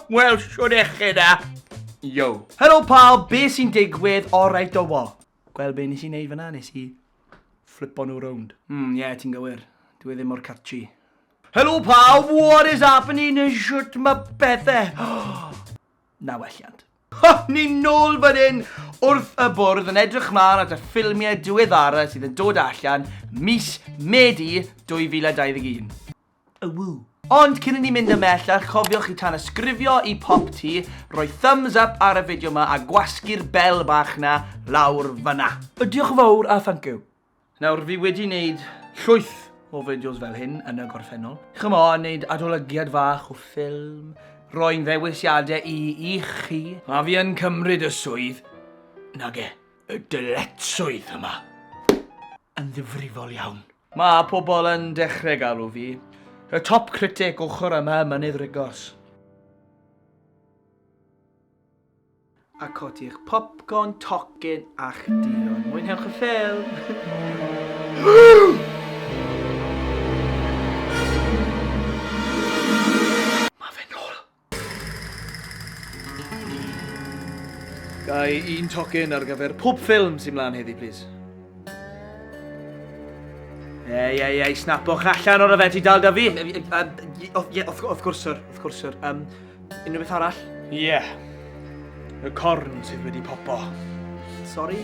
Wel, shwd eche da? Yo. Helo pawb, be sy'n digwydd? Alright do fo. Gweld be nes i wneud fyna, nes i flipo nhw rownd. Mm, ie, yeah, ti'n gywir. Dwi e ddim mor catchy. Helo pawb, what is happening yn shwt mae pethau? Na welliant. Ha, ni'n nôl fan hyn wrth y bwrdd yn edrych mlaen at y ffilmiau diweddara sydd yn dod allan mis Medi 2021. Ww! Ond cyn i ni mynd ymhellach, cofiwch i tanysgrifio i Pop Tee, rhoi thumbs up ar y fideo 'ma a gwasgu'r bell bach 'na lawr fan'na! Diolch yn fawr a thank you! Nawr, fi wedi neud llwyth o fideos fel hyn yn y gorffennol. Chimo, neud adolygiad fach o ffilm, rhoi'n ddewisiade i i chi. A fi yn cymryd y swydd, nage, y dyletswydd yma yn ddifrifol iawn. Mae pobl yn dechrau galw fi y top critic ochr yma ym Mynydd Rigos. A codi'ch popcorn, tocyn a'ch duon. Mwynhewch y ffilm! Gai un tocyn ar gyfer pob ffilm sy'n mlaen heddi, please? Ei, ei, ei, snapwch allan o'r yfed i dal da fi. Ie, wrth gwrs, sir, wrth gwrs, sir. Um, unrhyw beth arall? Ie. Yeah. Y corn sydd wedi popo. Sorry?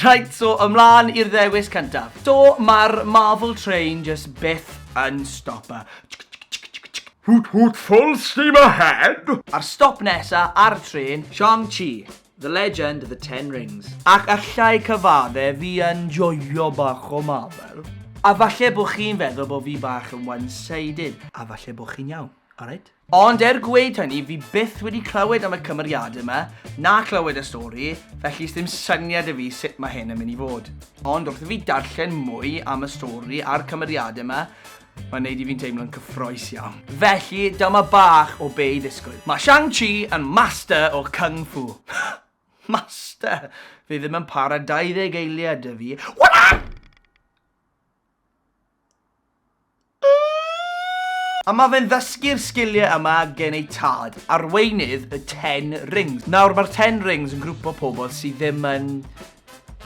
Rhaid, so ymlaen i'r ddewis cyntaf. Do, mae'r Marvel Train just byth yn stopper. Hoot hoot full steam ahead! A'r stop nesa ar y tren, Shang-Chi, The Legend of the Ten Rings. Ac allai cyfadde fi yn joio bach o Marvel. A falle bod chi'n feddwl bod fi bach yn one-sided, a falle bod chi'n iawn, alright? Ond er gweud hynny, fi byth wedi clywed am y cymeriadau yma, na clywed y stori, felly sdim syniad 'da fi sut mae hyn yn mynd i fod. Ond wrth i fi darllen mwy am y stori a'r cymeriadau yma, mae'n neud i fi'n teimlo'n cyffroes iawn. Felly, dyma bach o be' i ddisgwyl. Mae Shang-Chi yn master o Kung Fu. Master! Fi ddim yn para 20 eiliad 'da fi. What? A mae fe'n ddysgu'r sgiliau yma gen ei tad, arweinydd y Ten Rings. Nawr, mae'r Ten Rings yn grwp o pobl sydd ddim yn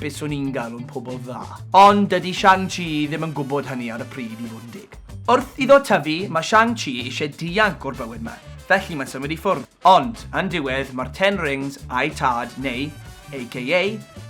beth swn i'n galw'n pobl dda. Ond dydy Shang-Chi ddim yn gwybod hynny ar y pryd i fod yn dig. Wrth iddo tyfu, mae Shang-Chi eisiau dianc o'r bywyd ma, felly mae'n symud i ffwrdd. Ond, yn diwedd, mae'r Ten Rings a'i tad, neu, aka,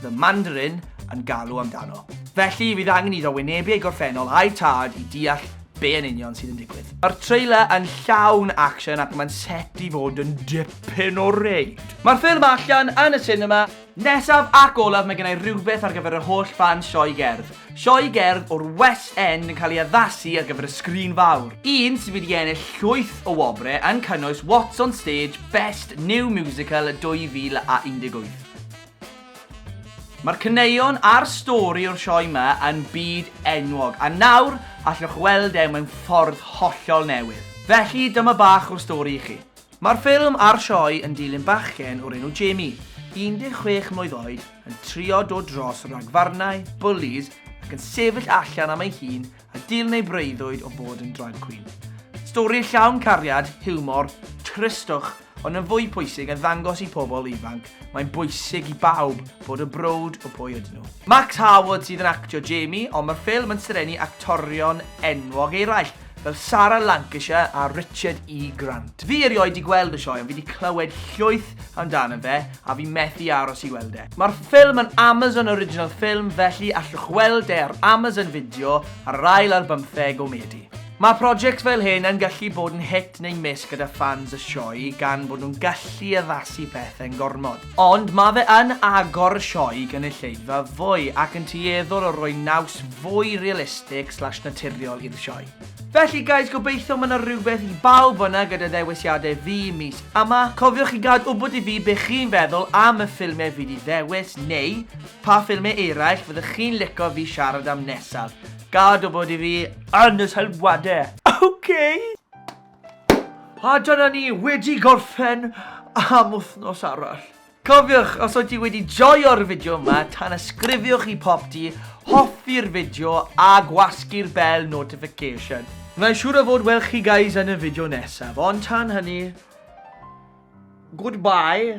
The Mandarin, yn galw amdano. Felly, fydd angen iddo wynebu ei gorffennol a'i tad i deall be yn union sydd yn digwydd. Mae'r trailer yn llawn action ac mae'n set i fod yn dipyn o reid. Mae'r ffilm allan yn y sinema. Nesaf ac olaf mae gennai rhywbeth ar gyfer yr holl ffans sioe gerdd. Sioe gerdd o'r West End yn cael ei addasu ar gyfer y sgrin fawr. Un sydd wedi ennill llwyth o wobre yn cynnwys What's on Stage Best New Musical 2018. Mae'r caneuon a'r stori o'r sioe 'ma yn byd enwog, a nawr allwch weld e mewn ffordd hollol newydd. Felly dyma bach o stori i chi. Mae'r ffilm a'r sioe yn dilyn bachgen o'r enw Jamie, 16 mlwydd oed, yn trio dod dros ragfarnau, bwlis, ac yn sefyll allan am ei hun a dilyn ei breuddwyd o fod yn drag queen. Stori llawn cariad, hiwmor, tristwch, ond yn fwy pwysig yn ddangos i pobl ifanc mae'n bwysig i bawb fod yn browd o pwy ydyn nhw. Max Harwood sydd yn actio Jamie, ond mae'r ffilm yn serennu actorion enwog eraill, fel Sara Lancashire a Richard E Grant. Fi erioed di gweld y sioe ond fi di clywed llwyth amdano fe a fi methu aros i weld e. Mae'r ffilm yn Amazon Original Film felly allwch weld e ar Amazon Video ar yr ail ar bymtheg o Medi. Mae projects fel hyn yn gallu bod yn hit neu miss gyda ffans y sioe gan bod nhw'n gallu addasu pethau'n gormod. Ond mae fe yn agor y sioe gynulleidfa fwy ac yn tueddol o roi naws fwy realistig slash naturiol i'r sioe. Felly guys gobeithio mae 'na rhywbeth i bawb fan'na gyda ddewisiadau fi mis yma. Cofiwch i gad wybod i fi be chi'n feddwl am y ffilmiau fi 'di ddewis neu pa ffilmiau eraill fyddech chi'n lico fi siarad am nesaf. Gad wybod i fi yn y sylwadau! Ok! A dyna ni wedi gorffen am wythnos arall. Cofiwch, os oed ti wedi joio'r fideo yma, tanysgrifiwch i Popty, hoffi'r fideo a gwasgu'r bell notification. Mae'n siŵr o fod welch chi guys yn y fideo nesaf, ond tan hynny, goodbye.